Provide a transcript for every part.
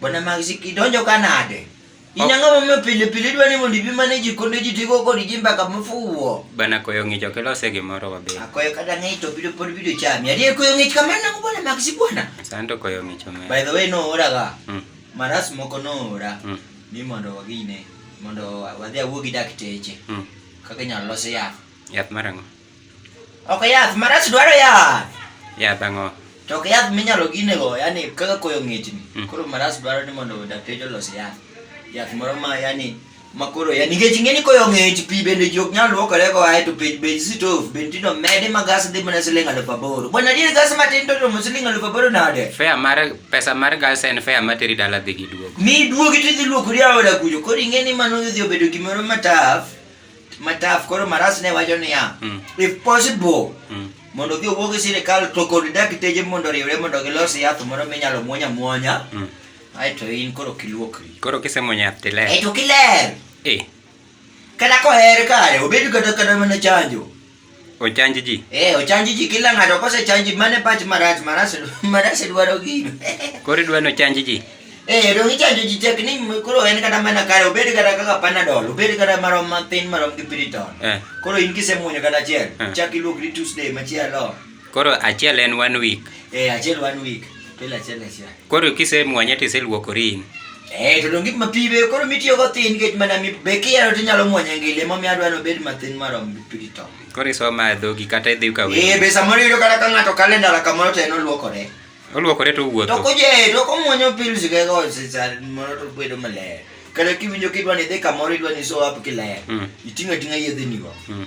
Bwana Maxi kidonjo ka nade? Inyang'o momiyo pile pile idwa ni mondo ibimane ji konde ji tigo kod ji mbaka mofuwo. Bwana koyo ng'ich ok ilose gimoro wabedo. Akoyo kata ng'ich to bido pod bido chami. Adier koyo ng'ich kamano nang'o bwana Maxi bwana? Sando koyo ng'ich omedo. By the way no ora ga. Mm. Maras moko no ora. Mm. Ni mondo wagine mondo wadhi awuo gi dakteche. Mm. Kaka inyalo los yath. Yath mar ang'o? Ok yath marach dwaro yath. Yath ang'o? To ok yath minyalo gine go, yani kaka koyo ng'echni. Mm. Koro marach dwaro ni mondo dakteche olos yath. Yath moro ma yani makoro ya nikech ing'eni koyo ng'ech pi bende ji ok nyal luokore go ae to pej bej sitof bende tino mede ma gas dhi mana siling alufu aboro bwana adier gas matin to romo siling alufu aboro nade fea mar pesa mar gas en fea materi dala dhi gi duogo mi duogi tidhi luokori aoda kujo koro ing'eni mano dhi obedo gimoro mataf mataf koro maras ne wacho niya mm. if possible mm. mondo gi owuog e sirikal to kod dakteje mondo riwre mondo gilos yath moro minyalo muonya muonya mm. aeto in koro kiluokri koro kisemuonyo yath tiler aeto kiler e. kata koher kare obed kata kata mana chanjo Ochanj ji. Eh, ochanj ji kila ng'ato kose chanji mane pach marach marach marach dwaro gino. Koro idwa no chanj ji. Eh, dong ichanjo ji tek ni koro en kata mana kare obed kata kaka panadol, obed kata marom matin marom gi piriton. Eh. Koro in kisemuonyo kata achiel, Eh. chak iluokri Tuesday machielo. Koro achiel en one week. Eh, achiel one week. Pile achiel achiel. Koro kisemwanye to iseluokori in. Eh, to donge ma pi be koro mitiyo go thin nikech mana mi be kiyaro to inyalo mwanye ngile momiyo adwa ni obed mathin marom gi pi to. Koro isoma e dhogi kata idhi ka wewe. Eh, be samoro iyudo kata ka ng'ato kale ndara kamoro to en oluokore. Oluokore to owuotho. To kuje, to komwonyo pills ge go sisa mondo to bedo maler. Kata kiwinjo kidwa ni idhi kamoro idwa ni show up kiler. Mm. Iting'a ting'a yedhe ni go. Mm.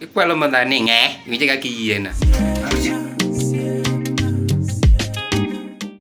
Ikwalo madha ni ng'e, winje kaka iyiena.